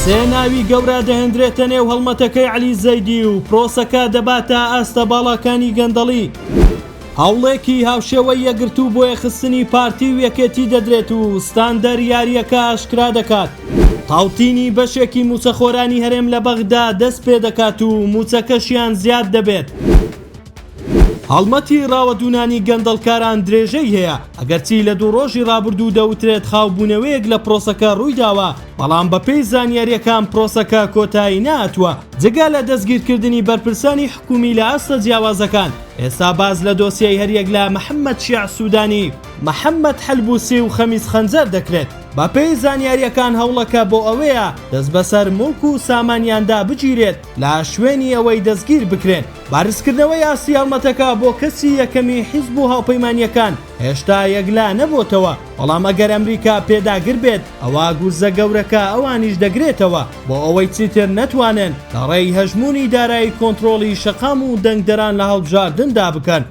سێ ناوی گەورە دەهێندرێتە نێو هەڵمەتەکەی عەلی زەیدی و پرۆسەکە دەباتە ئاستە باڵاکانی گەندەڵی. هەوڵێکی هاوشێوەی یەکگرتوو بۆ یەخستنی پارتی و یەکێتی دەدرێت و ستاندەر یارییەکە ئاشکرا دەکات. تاوتینی بەشێکی مووچەخۆرانی هەرێم لە بەغدا دەست پێدەکات و مووچەکەشیان زیاد دەبێت. هەڵمەتی ڕاوەدوونانی گەندەڵکاران درێژەی هەیە، ئەگەرچی لە دوو ڕۆژی ڕابردوو دەوترێت خاوبوونەوەیەک لە پرۆسەکە ڕوویداوە، بەڵام بەپێی زانیارییەکان پرۆسەکە کۆتایی نەهاتووە. جگە لە دەستگیرکردنی بەرپرسانی حکوومی لە ئاستە جیاوازەکان، ئێستا باس لە دۆسیەی هەریەک لە محەممەد شیاع سوودانی، محەممەد حەلبووسی و خەمیس خەنجەر دەکرێت. بەپێی زانیارییەکان هەوڵەکە بۆ ئەوەیە دەستبەسەر موڵک و سامانیاندا بگیرێت. لە شوێنی ئەوەی دەستگیر بکرێن، بەرزکردنەوەی ئاستی هەڵمەتەکە بۆ کەسی یەکەمی حیزب و هاوپەیمانییەکان هێشتا یەکلا نەبۆتەوە، بەڵام ئەگەر ئەمریکا پێداگر بێت، ئەوا گورزە گەورەکە ئەوانیش دەگرێتەوە بۆ ئەوەی چیتر نەتوانن لە ڕێی هەژموونی دارایی کۆنترۆڵی شەقام و دەنگدەران لە هەڵبژاردندا بکەن.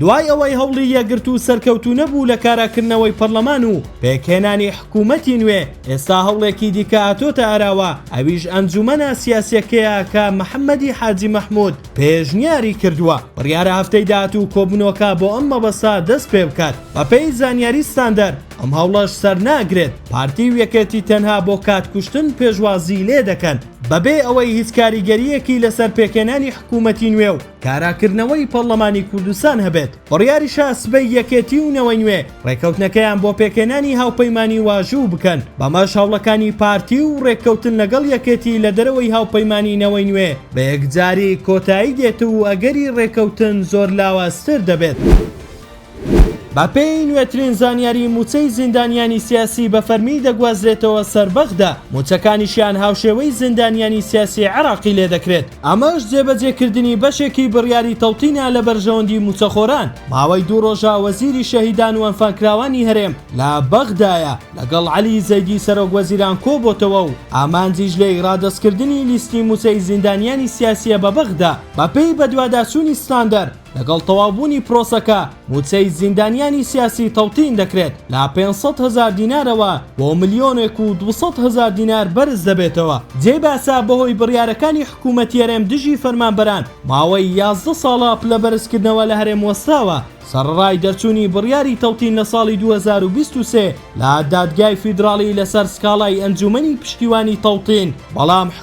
دوای ئەوەی هەوڵی یەکگرتوو و سەرکەوتوونەبوو لە کاراکردنەوەی پەرلەمان و پێکهێنانی حکوومەتی نوێ، ئێستا هەوڵێکی دیکە هاتۆتە ئاراوە، ئەویش ئەنجوومەنە سیاسییەکەیە کە محەممەدی حاجی مەحموود پێشنیاری کردووە، بڕیارە هەفتەی داهاتوو کۆبوونەوەکە بۆ ئەم مەبەستە دەست پێ بکات. بەپێی زانیاری ستاندەر، ئەم هەوڵەش سەرناگرێت، پارتی و یەکێتی تەنها بۆ کاتکوشتن پێشوازیی لێ دەکەن، بەبێ ئەوەی هیچ کاریگەرییەکی لەسەر پێکهێنانی حکوومەتی نوێ و کاراکردنەوەی پەڕڵەمانی کوردستان هەبێت، بڕیاری شاسبەی یەکێتی و نەوەی نوێ ڕێکەوتنەکەیان بۆ پێکهێنانی هاوپەیمانی واژوو بکەن، بەمەش هەوڵەکانی پارتی و ڕێککەوتن لەگەڵ یەکێتی لە دەرەوەی هاوپەیمانی نەوەی نوێ بە یەکجاری کۆتایی دێت و ئەگەری ڕێکەوتن زۆر لاوازتر دەبێت. بەپێی نوێترین زانیاری مووچەی زیندانیانی سیاسی بە فەرمی دەگوازرێتەوە سەر بەغدا، مووچەکانیشیان هاوشێوەی زیندانیانی سیاسی عێراقی لێ دەکرێت، ئەمەش جێبەجێکردنی بەشێکی بڕیاری تەوتینە لە بەرژەوەندی مووچەخۆران، ماوەی دوو رۆژە وەزیری شەهیدان و ئەنفالکراوانی هەرێم لە بەغدایە، لەگەڵ عەلی زەیدی سەرۆک وەزیران کۆبۆتەوە و ئامانجیش لێی رادەستکردنی لیستی مووچەی زیندانیانی سیاسییە بە بەغدا، بەپێی بەدواداچوونی ستاندەر. لەگەڵ تەواوبوونی پرۆسەکە مووچەی زیندانیانی سیاسی تەوتین دەکرێت لە پێنج سەد هەزار دینارەوە بۆ ملیۆنێک و دوو سەد هەزار دینار بەرز دەبێتەوە. جێی باسە بەهۆی بڕیارەکانی حکوومەتی هەرێم دژی فەرمانبەران ماوەی یازدە ساڵە پلەبەرزکردنەوە لە هەرێم وەستاوە، سەڕەڕای دەرچوونی بڕیاری تەوتین لە ساڵی دوو هەزار و بیست و سێ لە دادگای فیدراڵی لەسەر سکاڵای ئەنجوومەنی پشتیوانی تەوتین، بەڵام